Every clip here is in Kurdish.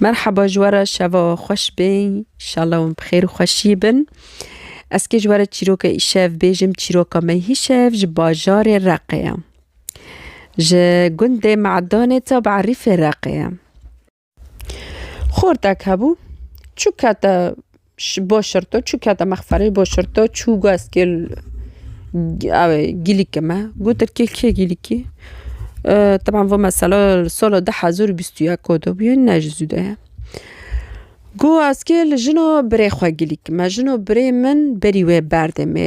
Merhaba ji we re şeva xweş bê inşallah wan bi xêr û xweşî bin. Ez kê ji we re çîroka îşev bêjim çîroka me hîşev ji bajarê reqê ye. Ji gundê me'danê tab erîfê reqê ye. Xortek hebû çû kete Boşirto çû kete mexferê boşirto çû guest kêl ew gîlîkê me gotir kêl kê gîlîkî teban vê mesela li sala du hezar û bîst û yek hatibûye ne ji zû de ye got ez kê li jina birê xwe gîlîk me jina birê min berî wê berdê me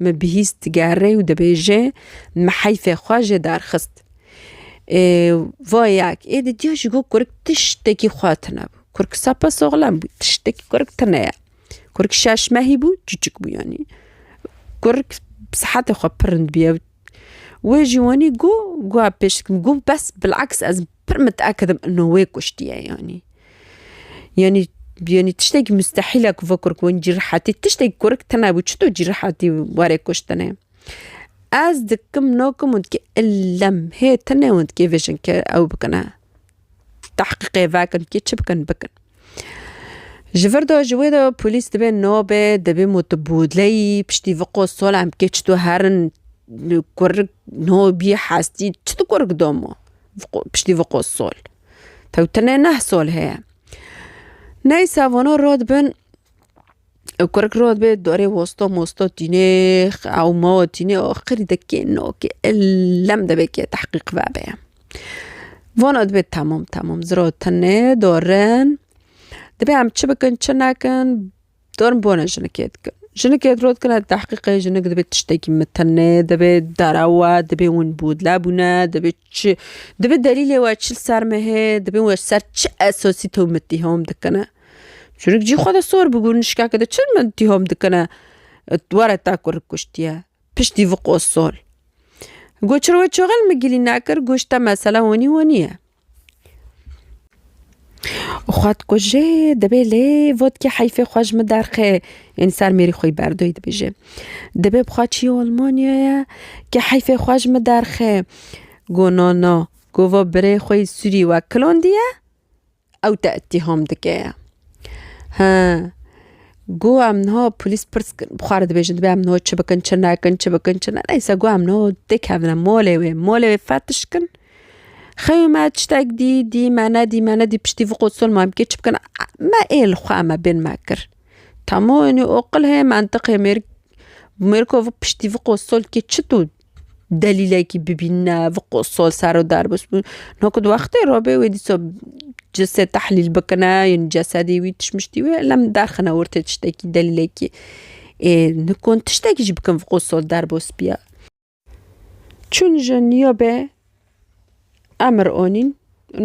Me bihîst digerê û dibêje me heyfê xwe jê derxist. Vayek ê di diya ji bo kurik tiştekî xwe tune bû. Kurik sapa soxlem bû tiştekî kurik tune ye. Kurik şeş mehî bû çûçik bû yanî. Kurik bi sihetê xwe pirind bûye. Wê jî wanî got got pêşdikim got bes bilaks ez Pir miteakid im ino wê kuştiye yanî. Yanî yanî tiştekî mustehîl e ku vê kurik win cî rihetî tiştekî kurik tune bû çito cî rihetî warê kuştinê. Ez dikim nakim û dikê illem hê tune û dikê vê jinke ew bikine. Tehqîqê vekin dikê çi bikin bikin. Ji vir de ji wê de polîs dibê nabe dibê motobûleyî piştî vi qosolan bikê çito herin kurik no bî hestî çi di kurik doma. piştî vê qos sol. Tewtinê neh sol heye. Ney savano rod bin û kurik rod bê dorê wosto mosto tîne ew ma we tîne oh qirî de kê no kê elem de bê kê tehqîq vebe ye. Vana dibê temam temam zira tenê dorin dibê em çi bikin çi nekin Dorm bona jinikê dikin. Jinikê diro dikine di tehqîqê jinik divê tiştekî mitinê divê dere we divê winbûdle bûne divê çi divê delîlê we çi li ser me hê divê we ji ser çi esasî to min tîhom dikine. Jinik cî xwe de sor bû gul nişkeke de çi min tîhom dikine were te ku rik kuştiye piştî vê qosol. Got çi re we çaxin min gilî nekir got ji te mesela wenî wenî ye. Xwedkujê dibê lê vodkê heyfê xwe ji min derxê yên ser mêrî xwe yî berdoyî dibêje. Dibê bixwe çîyê Almanyaya ke heyfê xwe ji min derxê. Got na na got va birê xwe yî sûrî wek kilandî ye ew te îttîham dike ye. He got em niha polîs pirs kirin bi xwe re dibêjin dibê em niha çi bikin çi nekin çi bikin çi ne neyse got em niha dikevin malê wê malê wê fetiş kin. Xeyû me tiştek dî dî me nedî me nedî piştî vî qot sol ma bikê çi bikin me ê li xwe me bên me kir. Tamû enû oqil heye mentiqê mêr mêrko vî piştî vî qot sol dikê çi tu delîlekî bibîne vî qot sol ser û der bûs bû no ku di wextê re bê wê dîsa cisê tehlîl bikine yên cesedê wî tişt mişt wî ela min derxine ortê tiştekî delîlekî ê nikom tiştekî jî bikim vî qot sol derbos bîya. Çûn ji Nîyobê emir onîn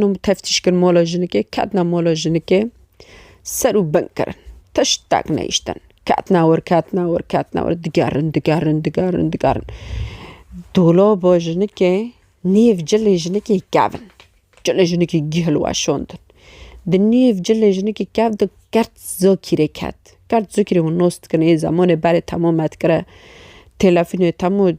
û teftîş kirin mola jinikê, ketina mola jinikê ser û bin kirin. Tiştek nehiştin. Ketina wir, ketina wir, ketina wir, digerin, digerin, digerin, digerin. Dolaba jinikê nêv cilê jinikê kevin. Cilên jinikî gihil weşandin. Di nêv cilên jinikî kev de kert zokîrê ket. Kert zokîrê hûn nas dikin ê zemanê berê temo me dikire. Telefûnê temo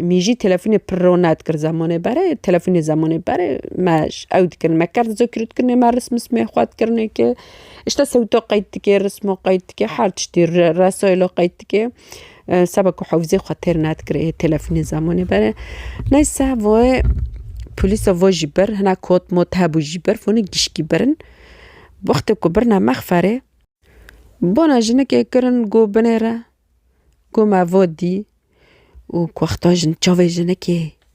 mîjî telefûnê pir rone dikir zemanê berê telefûnê zemanê berê me ji ew dikin. Me kert zokîrê dikin ê me rism mismê xwe dikirine ke îşte sewto qeyd dike, rismo qeyd dike her tiştî resaylo qeyd dike. Seba ku hewzê xwe têr nedikirê yê telefonê zamonê bere. Neyse voye polîsa vo jî bir hina kot mot hebû jî bir voni gişkî birin. Wextê ku birina mexferê bona jinikê kirin got binêre got me vo dî û wexta jin çavê jinikê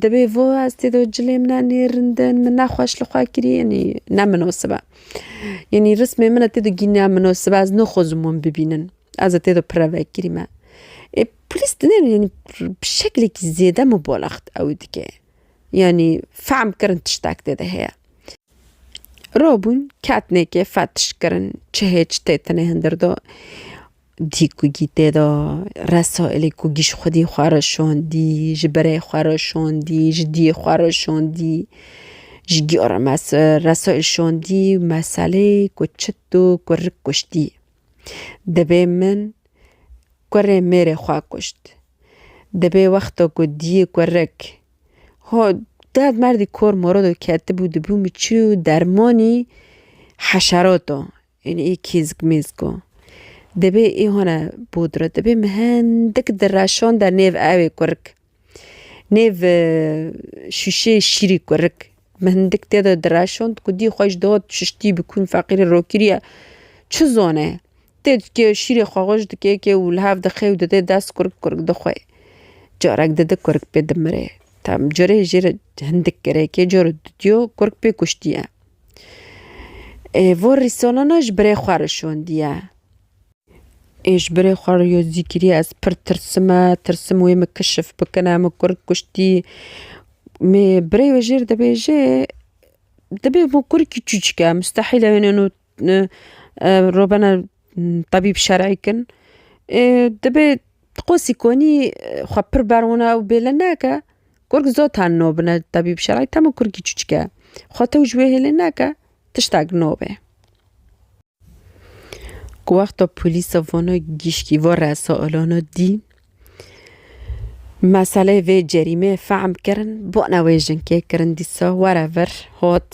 Dibê vo ez tê do cilê min e nê rindin min ne xweş li xwe kirî yanî ne minasib e. Yanî rismê min e tê do gînya minasib e ez naxwazim wan bibînin. Ez ê tê do pire vekirî me. Ê polîs di nê yanî bi şeklekî zêde mubalaxt ewê dike. Yanî fehm kirin tiştek tê de heye. Rabûn ketnekê fetiş kirin çi hê çi tê tinê hindir de. Dî ku gî tê de resaîlê ku gî ji xwedî xwe re şandî, ji berê xwe re şandî, ji dîyê xwe re şandî, ji gî re mes resaîl şandî meselê ku çit û ku rik kuştî. Dibê min kurê mêrê xwe kuşt. Dibê wexta ku dîyê ku rik hat derd merdî kor morodo ketibû dibû min çi û dermanî heşerata. Ên ê kîzg mîzg o. Debê ê hone bûdro. Debê me hindik direşon de nêv ewê kurik. Nêv şûşê şîrî kurik. Me hindik tê de direşon ku dî xweş dot şiştî bi kûn feqîrê rokiriye. Çi zone. Tê dikê şîrê xwe xweş dikê kê û li hev dixe û dide dest kurik kurik dixwe. Carek dide kurik pê dimirê. Tam curê jê re hindik gerek e. Cor didiyo kurik pê kuştiye. Ê vor rîsonana ji birê xwe re şondiye. Ê ji birê xwe re yo zî kiriye ez pir tirsime, tirsim wê min kişif bikine, min kur kuştî. Mê birê wê jêr dibêje dibê bo kurikî çûçik e mustehîl e wêne robena Tebîb şerî kin ê dibê ti qosî konî xwe pir berwina û bêle neke kurk zot her no bine tebîb şerî temo kurkî çûçik e xwe tew ji wê hêlê neke tiştek no be. Ku wexta polîsa vana gişkî va resa alana dî meseleyê vê cerîmeyê fehm kirin bana wê jinkê kirin dîsa were vir hat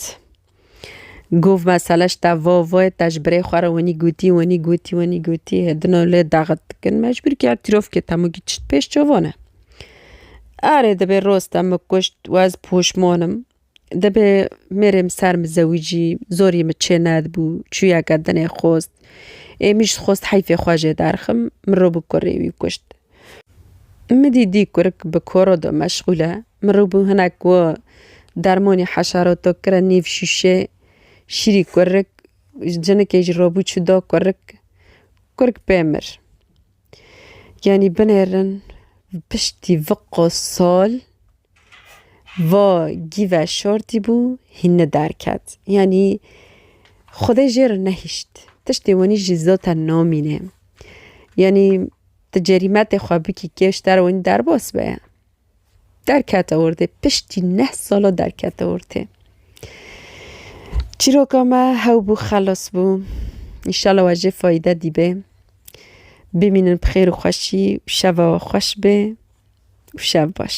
Gov mesele ji te va vê, te ji birê xwe re wenî gotî, wenî gotî, wenî gotî, hê din ew lê daxit dikin. Mecbûr kir tîrofkê temûkî tişt pêş çavon e. Erê dibê roz te min kuşt û ez poşman im. Dibê mêrê min ser min zewicî, zorî min çê nedibû, çûyeke dinê xwest. Ê min jî dixwest heyfê xwe jê derxim, min rû bi kurê wî kuşt. Min dîdî kurik bi koro de meşxûl e. Min rû bû hinek ku dermonê heşaroto kire nêv şûşê şîrî kurik, cinikê jî robû çû da kurik. Kurik pê mir. Yanî binêrin piştî viqo sal. Va gîve şortî bû hînî derket. Yanî Xwedê jê re nehişt. Tiştê wenî jî zaten namîne. Yanî ti cerîmetê xwe bikî kêşter wenî derbas be. Derkete ortê. Piştî neh sala derkete ortê. Çîroka me hew bû xelas bû. Înşala we jê fayde dîbê. Bimînin bi xêr û xweşî û şeva we xweş bê. û şev baş.